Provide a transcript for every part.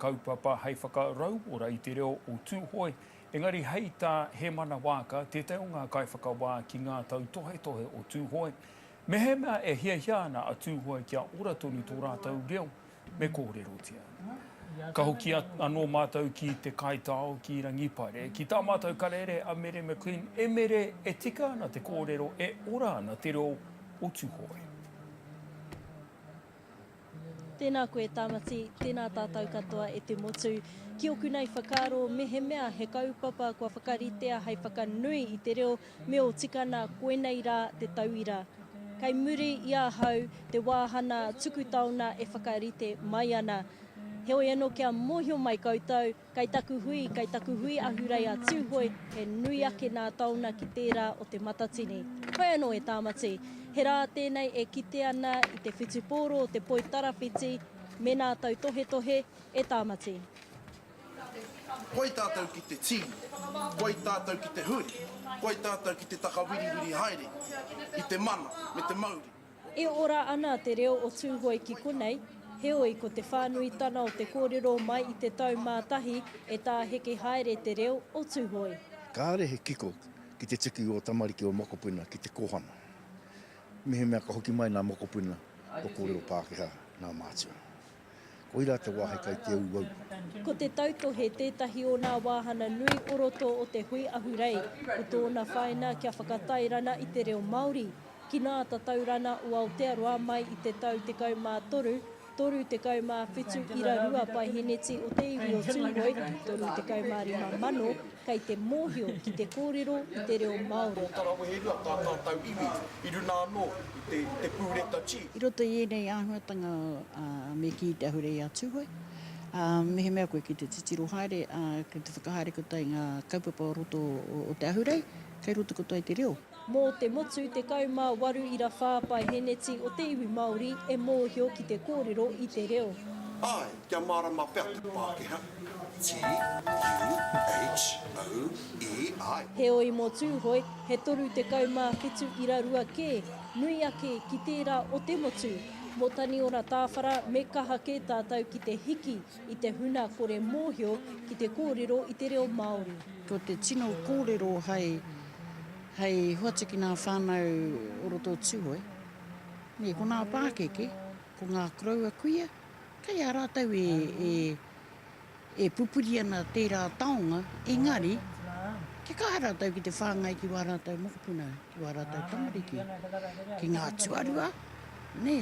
Kaupapa hei whakarauora i te reo o Tūhoe, engari hei tā Hemana Waaka, tētahi o ngā kaiwhakawā ki ngā tautohetohe o Tūhoe, Mehemea e hiahia ana a Tūhoe kia ora tonu tō rātou reo, me kōrerotia. Ka hoki anō mātou ki te kaitao ki Rangipare, ki tā mātou karere a Mere McLean, E Mere, e tika ana te kōrero, e ora ana te reo o Tūhoe. Tēnā koe Tāmati, tēnā tātou katoa e te motu. Ki oku nei whakaaro, mehemea he kaupapa kua whakaritea hei whakanui i te reo me ō tikana koinei rā te tauira. Kei muri i ahau te wāhana tuku taona e whakarite mai ana. Heoi anō kia mōhio mai koutou, Kei taku hui, kei taku hui ahurei a Tūhoe, he nui ake nā tāuna ki tērā o Te Matatini. Pai anō e Tāmati. He rā tēnei e kite ana i te whutupōro o te poi tarawhiti mēnā tautohetohe e Tāmati. Pai tātou ki te tī, pai tātou ki te hui, pai tātou ki te takawiriwiri haere i te mana me te mauri. E ora ana te reo o Tūhoe ki konei, heoi ko te whānuitana o te kōrero mai i te tau mā tahi e tāheke haere te reo o Tūhoe. Kāre he kiko ki te tuku ō tamariki ō mokopuna ki te kōhanga. Mehemea ka hoki mai nā mokopuna kua kōrero Pākehā nā mātua. Koirā te wāhi kai te auaua. Ko te tautohe tētahi o nā wāhana nui o roto o te hui ahurei, ko tōna whaina kia whakatairana i te reo Māori. Ki nā Tataurana o Aotearoa mai i te tau 13, 37 ira rua paiheneti o te iwi o Tūhoe, 35 mano, kei te mōhio ki te kōrero i te reo Māori. Tō Taraweherua tā tātau iwi i runa anō i te pūreta G. I roto i ēnei āhuatanga me kī te ahurei a Tūhoe, mehemea koe ki te titiro haere, ki te whakahaere katoa i ngā kaupapa o roto o te ahurei, kei roto katoa i te reo. Mō te motu 18 ira whā paeheneti o te iwi Māori e mōhio ki te kōrero i te reo. Āe, kia mārama pea te Pākehā. T-u-h-o-e-i. Heoi mō Tūhoe, he 37 ira rua kē, nui ake ki tērā o te motu. Mō Taniora Tāwhara, me kaha kē tātou ki te hiki. I te huna kore mōhio ki te kōrero i te reo Māori. Ko te tino kōrero hai, hai hoatu ki ngā whānau o roto o Tūhoe. Nē, ko ngā pākeke, ko ngā koroua kuia, kei a rātou e, e, e pupuri ana tērā taonga, engari, kia kaha rātou ki te whāngai ki wā rātou mokopuna. Ki wā rātou tamariki, ki ngā tuarua, nē,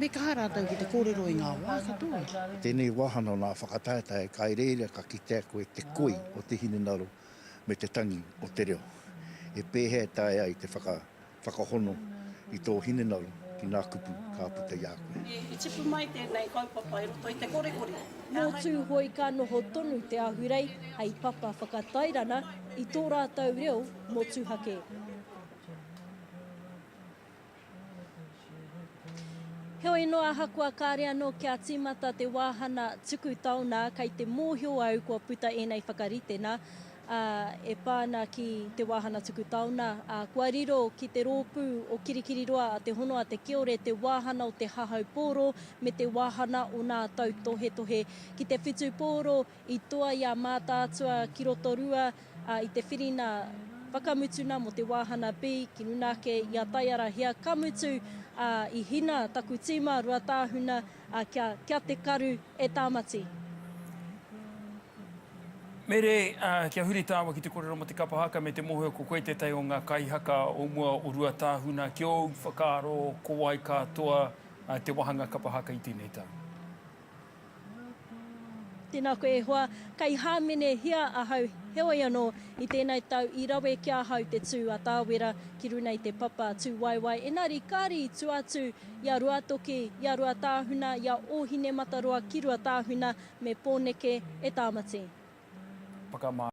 me kaha rātou ki te kōrero i ngā wā katoa. I tēnei wāhanga o nā whakataetae kai reira ka kitea koe te koi o te hinengaro me te tangi o te reo. He pēhea e taea ai te whakahono i tō hinengaro ki nā kupu ka puta i a koe? I tipu mai tēnei kaupapa i roto i te korekore. Nō Tūhoe ka noho tonu te Ahurei hei papa whakatairana i tō rātou reo motuhake. Heoi noa ahakoa kāre anō kia tīmata te wāhana tuku taonā, kei te mōhio au kua puta ēnei whakaritenga e pā ana ki te wāhana tuku taonā. Kua riro ki te rōpū o Kirikiriroa a Te Hono a Te Kiore te wāhana o te hahau pōro me te wāhana o nā tautohetohe ki te whitu pōro I toa i a Mātaatua ki Rotorua i te whiringa whakamutuna mō te wāhana B ki runa ake i a Taiara Hia, ka mutu, ā, i hina taku tīma Ruatāhuna kia, kia te karu e Tāmati. Mere, kia huri tāua ki te kōrero mō te kapa haka me te mōhio ko koe tētahi o ngā kaihaka o mua o Ruatāhuna, ki ōu whakaaro, ko wai katoa te wāhanga kapa haka i tēnei tau? Tēnā koe e hoa, kei hāmenehia ahau, heoi anō, i tēnei tau i rawe ki ahau te tū a Tāwera ki runa i te papa tūwaewae, engari kāre i tua atu i a Ruatoki, i a Ruatāhuna, i a Ōhinemataroa ki Ruatāhuna me Pōneke e Tāmati. Whakamā.